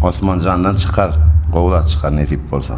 Osmanjandan çykar gowy zat çykar nesip bolsa.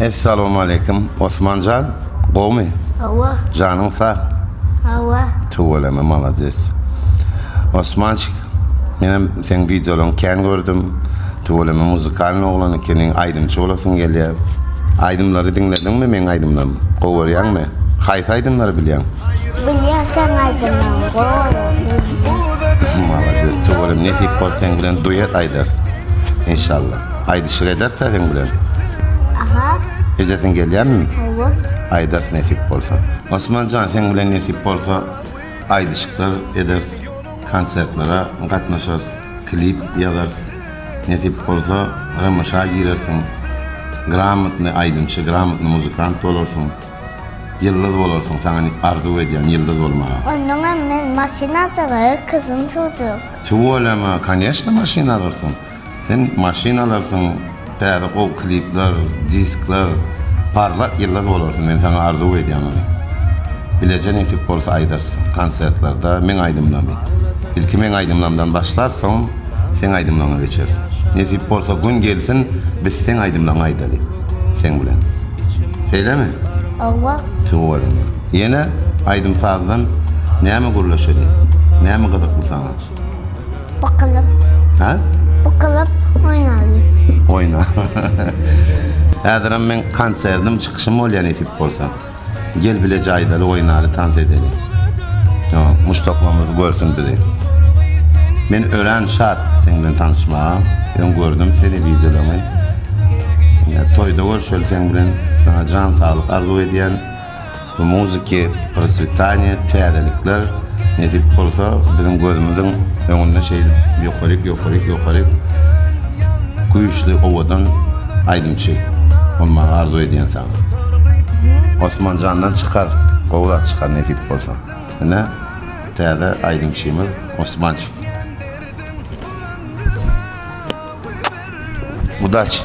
Essalowmaleýkim Osmanjan gowmy Hawa. janyň sag. Hawa. Tüweleme malades. Osmançik menem seň wideolaň kän gördüm. Tüweleme muzykalny oglan ekeniň aýdymçy bolasyň gelýä. Aýdymlary diňlediňmi meň aýdymlarym gowy görýäňmi? Haýsy aýdymlary bilýäň? Bilýän sen aýdymlaň gowy bilýän. Malades tuwelem nesip bol seň bilen duet aýdarys inşallah aýdyşyk ederis seň bilen. Aha. Edesiň gelýärmi? Hawa. Aýdarys nesip bolsa. Osmanjan seň bilen nesip bolsa aýdyşyklar ederis konsertlere gatnaşarys klip ýazarys nesip bolsa rmşa girersiň gramotny aýdymçy gramotny muzykant bolarsyň. Ýyldyz bolarsyň saňa arzuw edýän ýyldyz bolmagy. Onnoňam men maşyn aljaga kysym suwjak. Tüweleme koneşne maşyn alarsyň sen maşyn alarsyň täze gowy klipler diskler parlak ýyldyz bolarsyň men saňa arzuw edýän ony bileje nesip bolsa aýdarsyň konsertlerde meň aýdymlamy ilki meň aýdymlamdan başlar soň seň aýdymlaňa geçeris nesip bolsa gün gelsin biz seň aýdymlaňy aýdaly. seň bilen. Şeýlemi? Hawa. Tüweleme. Ýene aýdym-sazdan näme gürleşeli? Näme gyzykly saňa? Bukulyp. Hä? Bukulyp oýnaly. Oýna. Häzirem meň konsertim, çykyşym bolýa nesip bolsa. Gel bile jaýdaly oýnaly tans edeli muşdaklymyz görsün bizi Men örän şat seň bilen tanyşmaga öň gördüm seni wideolaryňy toýda görşeli seň bilen sana jan saglyk arzuw edýän bu muziki proswitaniýa täzelikler nesip bolsa biziň gözümiziň öňünde şeýdip ýokaryk ýokaryk ýokaryk güýçli owadan aýdymçy bolmagy arzuw edýän Osman jandan çykar gowy zat çykar nesip bolsa ine täze aýdymçymyz Osmançy. Udaçi.